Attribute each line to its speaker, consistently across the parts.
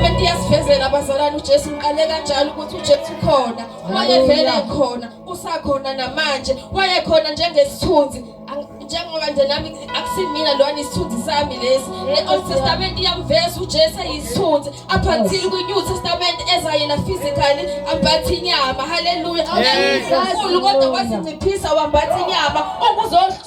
Speaker 1: Into iyasivezela abazalwane uJesu ngiqale kanjalo ukuthi uJesu khona wayevela khona usakhona namanje wayekhona njengesithunzi njengoba nje nami akusimina lona isithunzi sami lesi le-old testament iyamveza ujesu eyisithunzi aphathile kwi-new testament eza yena physically ambatha inyama haleluya unkulu kodwa wazinciphisa wambatha inyama ukuzohlu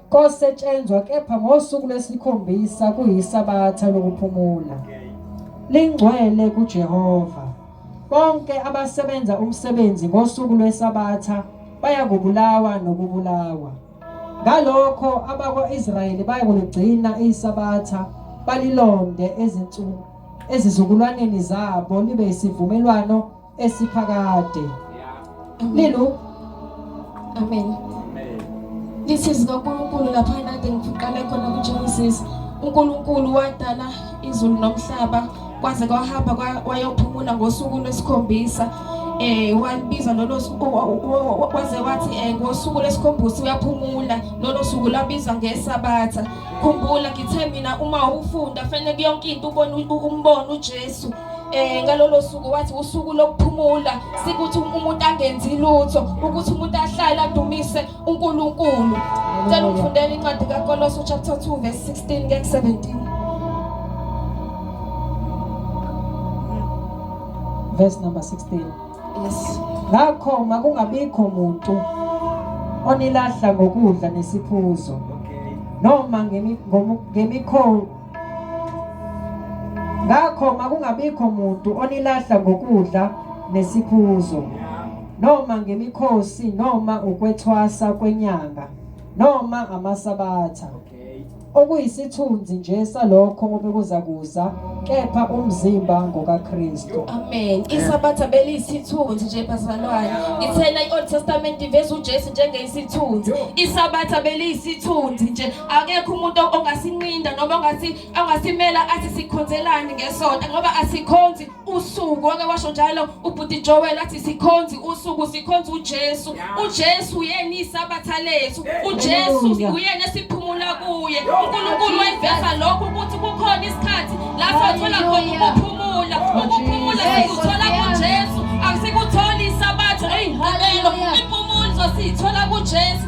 Speaker 2: kosetshenzwa kepha ngosuku lwesikhombisa kuyisabatha lokuphumula lingcwele kuJehova bonke abasebenza umsebenzi ngosuku lwesabatha bayakubulawa nokubulawa ngalokho abakwa-Israyeli bayakuligcina isabatha balilonde ezinsuku ezizukulwaneni zabo libe isivumelwano esiphakade lelo
Speaker 1: amen ngithi zikaNkulunkulu lapha enade ngiqale khona kuGenesis uNkulunkulu wadala izulu nomhlaba kwaze kwahamba wayophumula ngosuku lwesikhombisa eh walibiza lolo kwaze wathi eh ngosuku lesikhombisa uyaphumula lolo suku labiza ngesabatha khumbula ngithe mina uma ufunda fanele yonke into ubone umbono uJesu eh ngalolo suku wathi usuku lokuphumula sikuthi umuntu angenzi lutho ukuthi umuntu ahlale adumise uNkulunkulu cela ungifundele incwadi kaKolose chapter 2 verse 16 ngeke 17
Speaker 2: verse
Speaker 1: number 16 yes ngakho
Speaker 2: makungabikho muntu onilahla ngokudla nesiphuzo noma ngemikho ngakho makungabikho muntu onilahla ngokudla nesiphuzo noma ngemikhosi noma ukwethwasa kwenyanga noma amasabatha okuyisithunzi nje salokho obekuza kuza kepha umzimba ngokaKristu amen
Speaker 1: isabatha beliyisithunzi nje bazalwane ngithena i-old testament iveza ujesu njengeyisithunzi isabatha beliyisithunzi nje akekho umuntu ongasinqinda noma ongathi ongasimela athi sikhonzelani ngesonto ngoba asikhonzi usuku wake washo njalo ubhuti Joel athi sikhonzi usuku sikhonza uJesu uJesu uyena isabatha lethu uJesu uyena esiphumula kuye uNkulunkulu wayiveza lokho ukuthi kukhona isikhathi lapho athola khona ukuphumula ukuphumula sikuthola kuJesu akusikutholi isabatha eyimpumelo impumulo sizosithola kuJesu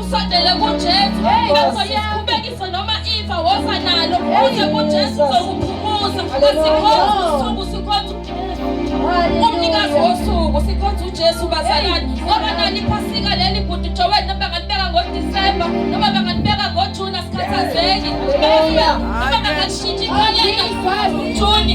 Speaker 1: usondele kuJesu ngakho isikhubekise noma ifa woza nalo uze kuJesu uzokuphumuza asikhonza usuku sikhonza umnikazi wosuku sikhonza uJesu bazalwane ngoba nani phasika leli bhuti Joel noma bangalibeka ngoDisemba noma bangalibeka ngoJuni asikhathazeki noma bangalishintshi inyanga Juni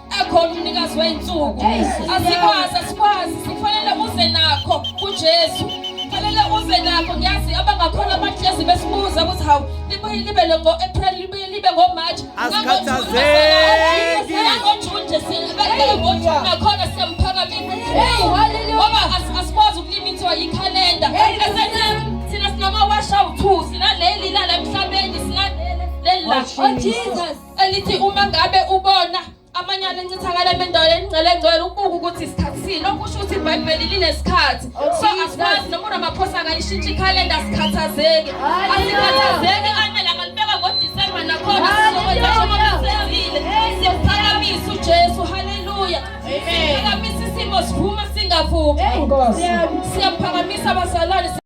Speaker 1: ekhona umnikazi wey'nsuku asikwazi asikwazi sifanele uze nakho kujesu fanele uze nakho ngiyazi abangakhona abahlezi besibuza ukuthi hawu libuye libe ngo-april libuye libe ngomarch asikhathazeki
Speaker 3: ngojuni nje
Speaker 1: sibekele ngojuni nakhona siyamphakamise ngoba asikwazi ukulimithiwa yikhalenda thina sinama-wash out two sinaleli lala emhlabeni sinaleli la oh jesus elithi uma ngabe ubona amanyala encithakala emendaweni engcele ngcwele ukubuka ukuthi isikhathi sini okusho ukuthi ibhayibheli linesikhathi so asikwazi noma uramaphosa angayishintsha ikhalenda sikhathazeki asikhathazeki anele angalibeka ngodisemba nakhona sizokwenzashomaisezile siyaphakamisa ujesu haleluya siyaphakamisa
Speaker 2: isimo
Speaker 1: siphuma singavumi siyaphakamisa abazalwane